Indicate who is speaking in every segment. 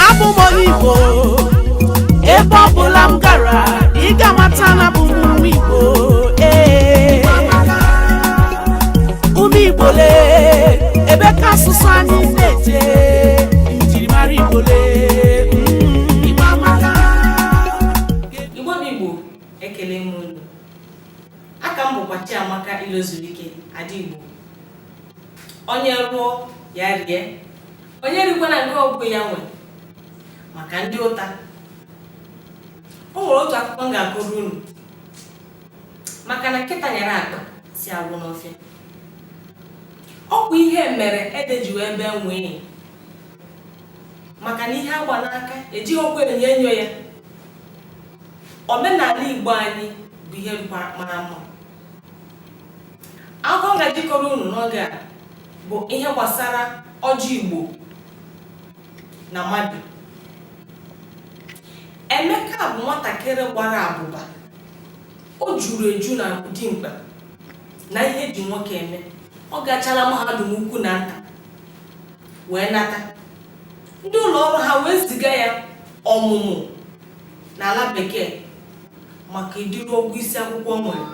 Speaker 1: abụ m onye igbo ebe ọ bụla m gara ị ga-amata na abụ m nwa igbo ee ụmụ igbo lee ebe ka asụsụ anyị na-eje njirimara igbo lee
Speaker 2: mm. igbo bụ igbo ekele m unu aka m bụkwa chiamaka ilozurike ada igbo onye rụọ ya rie onye rikwana nke ọgwụ ya nwe maka ndị ụta o nwere otu akụkọ m ga-akọrọ unu maka na nkịta nyara akpa nsị agwụ n'ọfịa ọ kwa ihe mere ede ji wee bee nwee maka na ihe agba n'aka ejighị ọkụ enyo enyo ya omenala igbo anyị bụ ihe mara mma akụkọ m gaje ịkọrọ unu n'oge a bụ ihe gbasara ọjị igbo na mmadụ emeka bụ nwatakịrị gbara abụba o juru eju na dimkpa na ihe e ji nwoke eme ọ gachala mahadum ukwu na nta wee nata ndị ụlọ ọrụ ha wee ziga ya ọmụmụ n'ala bekee maka ụdịrị ọgụgụ isi akwụkwọ o nwere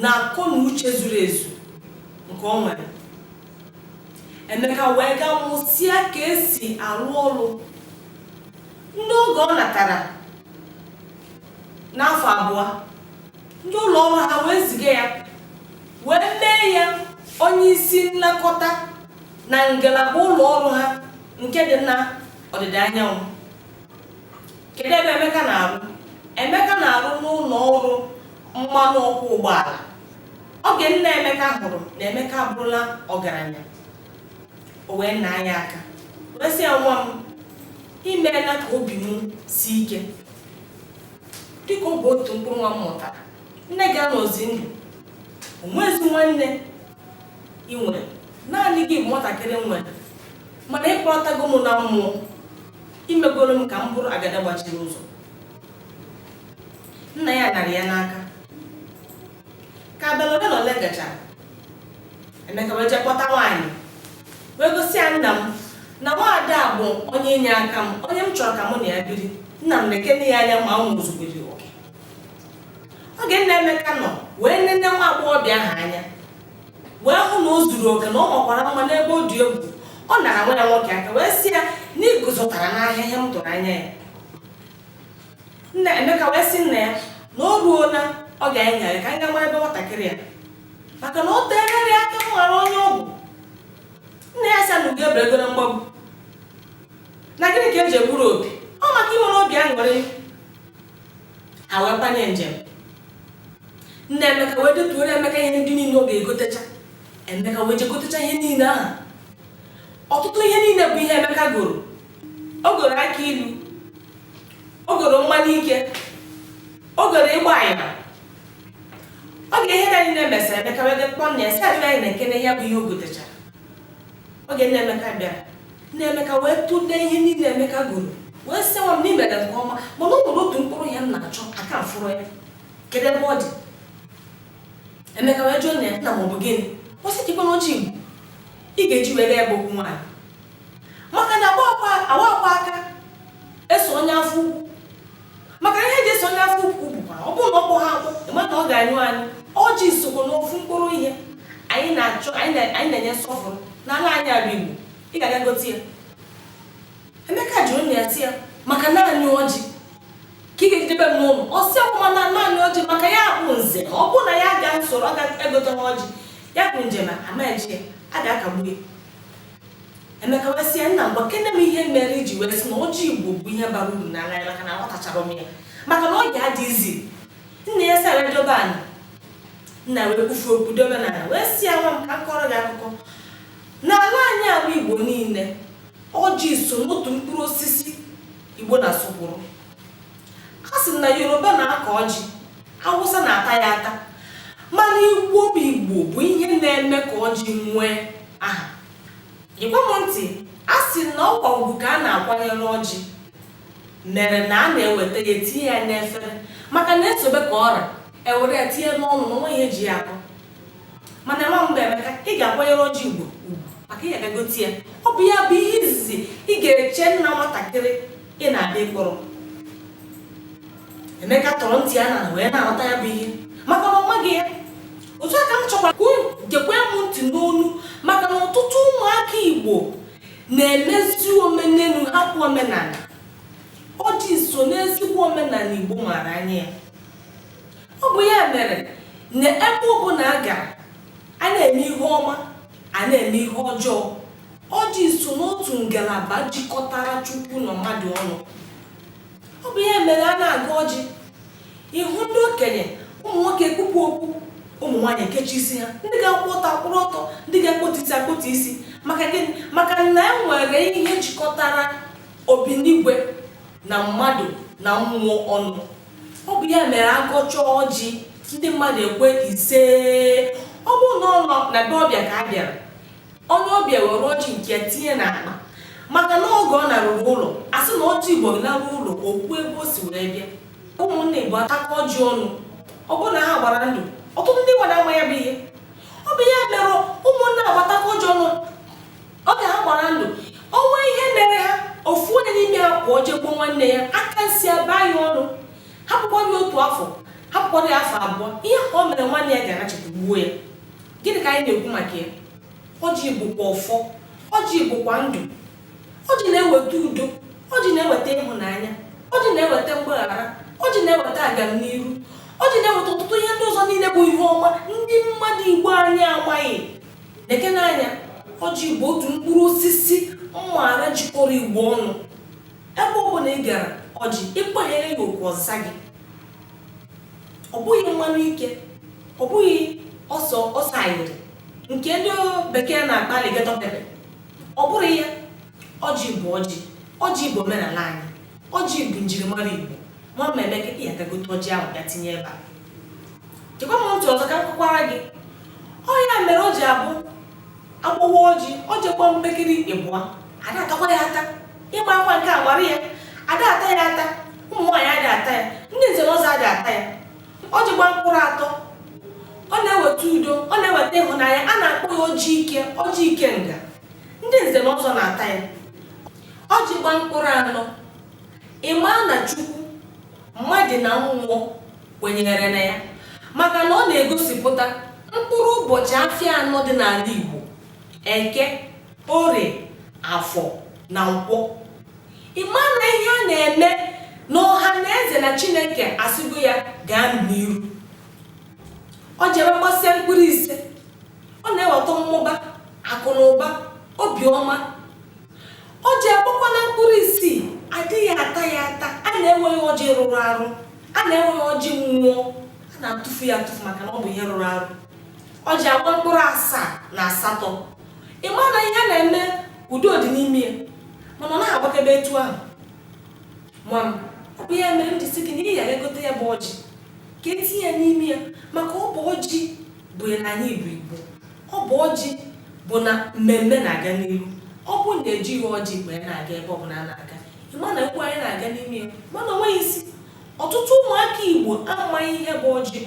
Speaker 2: na akọ na uche zuru ezu nke o nwere emeka wee gaa mụsịa ka esi arụ ọrụ ndị oge ọ natara n'afọ abụọ ndị ụlọ ọrụ ha wee ziga ya wee mee ya onye isi nlekọta na ngalaba ụlọ ọrụ ha nke dị na ọdịda anyanwụ kedu ebe Emeka na-arụ Emeka na-arụ n'ụlọ ọrụ mmanụ ọkụ ụgbọala oge nna Emeka hụrụ na Emeka abụrụla ọgaranya o wee naa ya aka wee sị ya nwa m i meela ka obi m si ike dịka ọ bụ otu mkpụrụ nwa m mụtara nne gị anọzi ndụ o nwezi nwanne ị nwere naanị gị bụ nwatakịrị m nwere mana ị kpọtago m na mmụọ i megoro m ka m bụrụ agada gbachiri ụzọ nna ya narị ya n'aka ka abalị ole na ole gachara emeka wee jee kpọta nwaanyị wee gosi ya nna m na nwaada a bụ onye inye aka m onye m chọrọ ka mụ na ya biri nna m nekene ya anya ma o zugoro oke oge nna emeka nọ wee nene nwa agbọghọbịa ahụ anya wee hụ na o zuru oke na ọ makwara mma n'ebe ọ dị egwu ọ nara nwa ya nwoke aka wee sị ya na iguzotara n'ahịa ihe m tụrụ anya ya nna emeka wee sị nna ya na o ruo na ọ ga-enyere ka m gaa mara ebe nwatakịrị ya maka na o tenyere ya aka m ghara onye ọgwụ nna ya sị na ugo eberego na mgbagbu na gịnị ka eji egburu oge emeka nwere obi aṅụrị ha wee banye njem nna emeka wee detuoro emeka ihe ndị niile ọ ga-egotecha emeka wee jegotecha ihe niile ahụ ọtụtụ ihe niile bụ ihe emeka goro o goro aka ilu o goro mmanya ike o goro ịgba anyịna oge ihe niile mesịrị emeka wee je kpọọ nna ya sị ya bịa nekene ya bụ ihe o gotechara oge nna emeka bịara nna emeka wee tụlee ihe niile emeka goro wee sị nwa m na i mere nke ọma mana o nwere otu mkpụrụ ihe m na-achọ aka m afụrọ ya kedu ebe ọ dị emeka wee jụọ nna ya nna m ọ bụ gịnị ọ sị ọjị kwanụ ọjị igbo ị ga-eji wee je ya bụ okwu nwaanyị maka na agbakwa aka eso onye afọ ukwu maka ihe eji eso onye afọ ukwu bụkwa ọ bụrụ na ọ gbọghị agbọ ị ma na ọ ga-anyụ anyụ ọjị sokwa n'ofu mkpụrụ ihe anyị na-achọ anyị na- anyị na-enye nsọpụrụ n'ala anyị ala igbo ị ga-aga gote ya emeka jụrụ nna ya sị ya maka naanị ọjị ka ị ga-ejidebe m n'ụlọ ọ sị ọkwa ị ma na naanị ọjị maka ya bụ nze ọ bụrụ na ya ga nsoro ọ ga-egote ọjị ya bụ njem ama eje ya a ga-akagbu ya Emeka wee sị ya, nna m gwakene m ihe mere eji wee sị na ọjị Igbo bụ ihe bara uru n'ala ya maka na aghọtacharọ m ya maka na oge adịghịzi nna ya sị ya dobe ana nna wee kwufe okwu dobe n'ala wee sị ya nwa m ka m kọrọ gị akụkọ n'ala anyị ala Igbo niile ọjị so n'otu mkpụrụ osisi Igbo na-asọpụrụ a sị na Yoruba na-akọ ọjị awụsa na-ata ya ata mana igbo bụ igbo bụ ihe na-eme ka ọjị nwee aha gekwa m ntị a sị na ọkwa ugwu ka a na-akwanyere ọjị mere na a na-eweta ya tinye ya n'efere maka na esobe ka ọ ra ewere ya tinye n'ọnụ na onweghị eji ya akọ mana nwa m bụ emeka ị ga-akwanyere ọjị igbo ugwu maka ị ga-aga gote ya ọ bụ ya bụ ihe izizi ị ga-eche nna nwatakịrị ị na-abịa ịkpọrọ Emeka tọrọ ntị ana wee na-aghọta ya bụ ihe maka na ọ maghị ya otu a ka m chọkwara ka unu gekwe m ntị n'onu maka na ọtụtụ ụmụaka Igbo na-emezi omenelu hapụ omenala ọjị so n'ezigbo omenala Igbo maara anya ya ọ bụ ya mere na ebe ọbụla a gara a na-eme ihe ọma a na-eme ihe ọjọọ ọjị so n'otu ngalaba jikọtara Chukwu na mmadụ ọnụ ọ bụ ya mere a na-agọ ọjị ị hụ ndị okenye ụmụ nwoke ekpupụ okpu ụmụ nwaanyị ekechi isi ha ndị ga-akwụ ọtọ akwụrụ ọtọ ndị ga-akpọtu isi akpọtu isi maka gịnị maka na e nwere ihe jikọtara obinigwe na mmadụ na mmụọ ọnụ ọ bụ ya mere a gọchaa ọjị ndị mmadụ ekwe isee ọ bụrụ na ọ nọ na be ọbịa ka a bịara onye ọbịa were ọjị nke ya tinye n'akpa maka na oge ọ naruru ụlọ a sị na ọjị igbo naruo ụlọ o kwuo ebe o si wee bịa ụmụnna igbo atakọ ọjị ọnụ ọ bụrụ na ha gbara ndụ ọtụtụ ndị gbara ama ya bụ ihe ọ bụ ya mere ụmụnna agbatakọ ọjị ọnụ oge ha gbara ndụ o nwee ihe mere ha ofu onye n'ime ha pụọ jee gbuo nwanne ya aka nsi abaa ya ọnụ hapụkwara ya otu afọ hapụkwara ya afọ abụọ ihe ka o mere nwanne ya ga-anachite gbuo ya gịnị ka anyị na-ekwu maka ya ọjị bụkwa ọfọ ọjị bụkwa ndụ ọjị na-eweta udo ọjị na-eweta ịhụnanya ọjị na-eweta mgbaghara ọjị na-eweta agamniru ọjị na-eweta ọtụtụ ihe ndị ọzọ niile bụ ihe ọma ndị mmadụ igbo anyị amaghị lekene anya ọjị bụ otu mkpụrụ osisi m maara jikọrọ igbo ọnụ ebe ọ bụla ị gara ọjị ị kpanyere ya okwu ọ zaa gị ọ bụghị mmanụ ike ọ bụghị ose ayịrị nke ndị bekee na-akpọ alligator pepper ọ bụrọ ya ọjị bụ ọjị ọjị bụ omenala anyị ọjị bụ njirimara igbo nwa m emeka ị ya-aga gote ọjị ahụ bịa tinye ebe a chekwa m ntị ọzọ ka m kọkwara gị ọ ya mere o ji abụ a kpọwaa ọjị ọjị gbaa mpekiri ịbụa ada atakwa ya ata ịgba akwa nke a gbara ya ada ata ya ata ụmụ nwaanyị adị ata ya ndị nze na ọzọ adị ata ya ọjị gbaa mkpụrụ atọ ọ na-eweta udo ọ na-eweta ịhụnanya a na-akpọ ya ọjị ike ọjị ikenga ndị nze na ọzọ na-ata ya ọjị gbaa mkpụrụ anọ ị ma na chukwu mmadụ na mmụọ kwenyere na ya maka na ọ na-egosipụta mkpụrụ ụbọchị afịa anọ dị n'ala Igbo eke orie afọ na nkwọ ị ma na ihe a na-eme na ọha na eze na chineke asịgo ya gaa n'iru ọ jere gbasịa mkpụrụ ise ọ na-eweta mmụba akụ na ụba obiọma ọjị agbakwala mkpụrụ isii adịghị ata ya ata a na-ewe ya ọjị rụrụ arụ a na-ewe ya ọjị mmụọ a na-atụfu ya atụfu maka na ọ bụ ihe rụrụ arụ ọjị agbaa mkpụrụ asaa na asatọ ị ma na ihe a na-eme udo dị n'ime ya mana ọ naghị agbakebe etu ahụ nwa m ọ bụ ya mere m ji sị gị na ị ya-egote ya bụ ọjị ka e tinye ya n'ime ya maka ọ bụ ọjị bụ ya na anyị bụ igbo Ọ bụ ọjị bụ na mmemme na-aga n'ihu. Ọ bụ na ejighị ọjị wee na-aga ebe ọbụla a na-aga, ị ma na egwu anyị na-aga n'ime ya mana o nweghị isi. Ọtụtụ ụmụaka Igbo amaghị ihe bụ ọjị.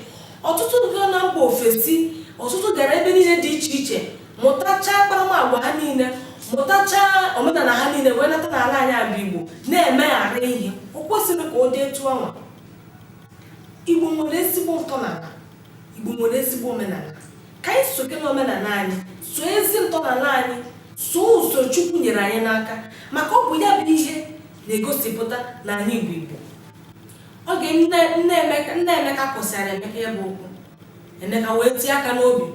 Speaker 2: Ọtụtụ gara na mba ofesi, ọtụtụ gara ebe niile dị iche iche mụtachaa akparamagwa ha niile, mụtachaa omenala ha niile wee nata n'ala anyị a bụ Igbo na-emeghara ihe. O kwesịghị ka ọ dị etu anwa. Igbo nwere ezigbo ntọala. Igbo nwere ezigbo omenala. Ka anyị soke n'omenala anyị, soo ezi ntọala anyị, soo ụzọ Chukwu nyere anyị n'aka maka ọ bụ ya bụ ihe na-egosipụta na anyị bụ Igbo. Oge nna Emeka kwusịara Emeka ya bụ okwu, Emeka wee tie aka n'obi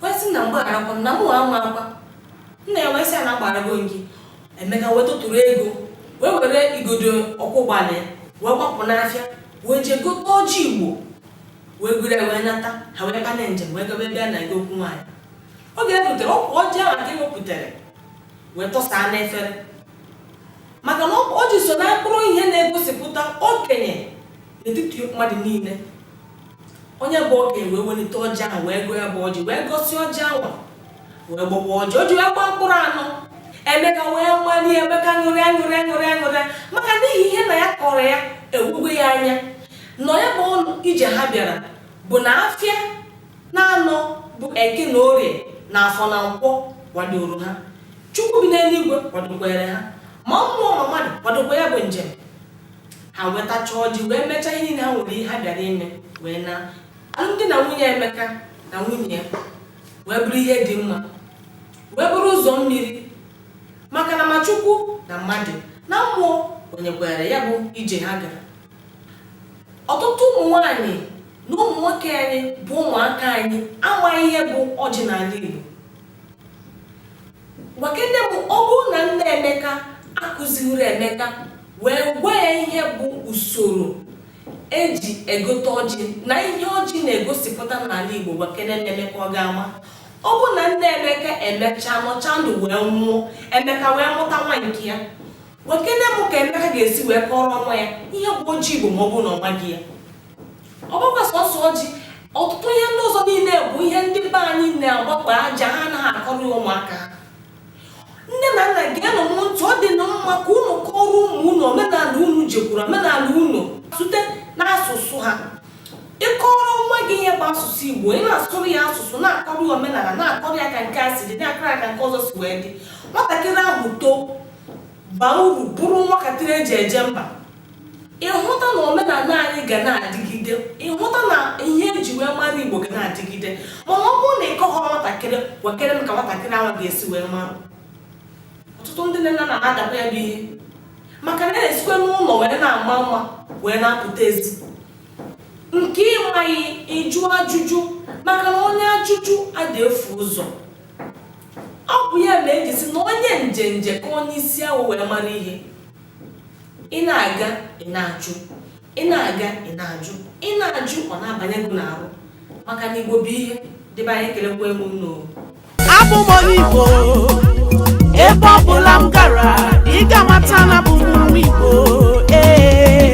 Speaker 2: wee sị nna m gbagharakwa m na mụ amakwa. Nna ya wee sị ya na agbagharago m gị. Emeka wee tụtụrụ ego wee were igodo ọkwọ ụgbọala ya wee gbapụ n'afịa wee jee gote ọjị Igbo wee buru wee nata ha wee banye njem wee gaba ebe a na-ege okwu nwaanyị oge e rutere ọkwa ọjị ahụ ka ewepụtara wee tọsaa n'efere maka na ọjị so na mkpụrụ ihe na-egosipụta okenye n'etiti mmadụ niile onye bụ okenye wee welite ọjị ahụ wee gọọ ya bụ ọjị wee gọsịa ọjị ahụ wee gbawaa ọjị ọjị wee gbaa mkpụrụ anọ emeka wee mali emeka ṅụrịa maka n'ihi ihe nna ya kọrọ ya ewugo ya anya na ya bụ ọnụ ije ha bịara bụ na afịa naanọ bụ eke na orie na afọ na nkwọ kwadoro ha chukwu bi n'eluigwe kwadokwere ha ma mmụọ ma mmadụ kwadokwa ya bụ njem ha wee tachaa ọjị wee mechaa ihe niile ha nwere ihe ha bịara ime wee naa alụmdi na nwunye emeka na nwunye ya wee bụrụ ihe dị mma wee bụrụ ụzọ mmiri maka na ma chukwu na mmadụ na mmụọ kwenyekwara ya bụ ije ha gara ọtụtụ ụmụ nwanyị na ụmụ nwoke anyị bụ ụmụaka anyị amaghị ihe bụ ọjị n'ala igbo gwakene m ọ bụrụ na nna emeka akụzighịrị emeka wee gwa ya ihe bụ usoro E ji egote ọjị na ihe ọjị na-egosipụta n'ala Igbo gwakene m Emeka ọ ga-ama ọ bụ na nna Emeka emechaa nọcha ndụ wee nwụọ Emeka wee mụta nwa nke ya gwakene m ka Emeka ga-esi wee kọrọ nwa ya ihe bụ ọjị Igbo ma ọ bụ na ọ maghị ya ọ bụkwa sọsọ ọjị ọtụtụ ihe ndị ọzọ niile bụ ihe ndị be anyị na-agbakwa aja ha anaghị akọrọ ụmụaka nne na nna geenụ m ntị ọ dị na mma ka unu kọrọ ụmụ unu omenala unu jekwuru omenala unu site n'asụsụ ha ịkọrọ nwa gị ihe bụ asụsụ igbo ị na-asụrụ ya asụsụ na-akọrọ ya omenala na-akọrọ ya ka nke a si dị na-akọrọ ya ka nke ọzọ si wee dị nwatakịrị ahụ too baa uru bụrụ nwatakịrị eji eje mba ị hụta na omenala anyị ga na-adịgide ị hụta na ihe eji wee mara igbo ga na-adịgide mana ọ bụrụ na ị kọghọrọ nwatakịrị gwakere m ka nwatakịrị ahụ ga-esi wee mara ọtụtụ ndị nne na nna na-adakwa ya bụ ihe maka na a na-esikwe n'ụlọ wee na-ama mma wee na-apụta ezi nke ị maghị ị jụọ ajụjụ maka na onye ajụjụ adị efu ụzọ ọ bụ ya na eji sị na onye njenje ka onye isi awọ wee mara ihe ị na-aga ị na-ajụ ị na-aga ị na-ajụ ị na-ajụ ọ na-abanye gị n'arụ maka na igbo bụ ihe ndị be anyị ekelekwa m unu o abụ m
Speaker 1: onye igbo ebe ọ bụla m gara ị ga-amata na bụ m nwa igbo ee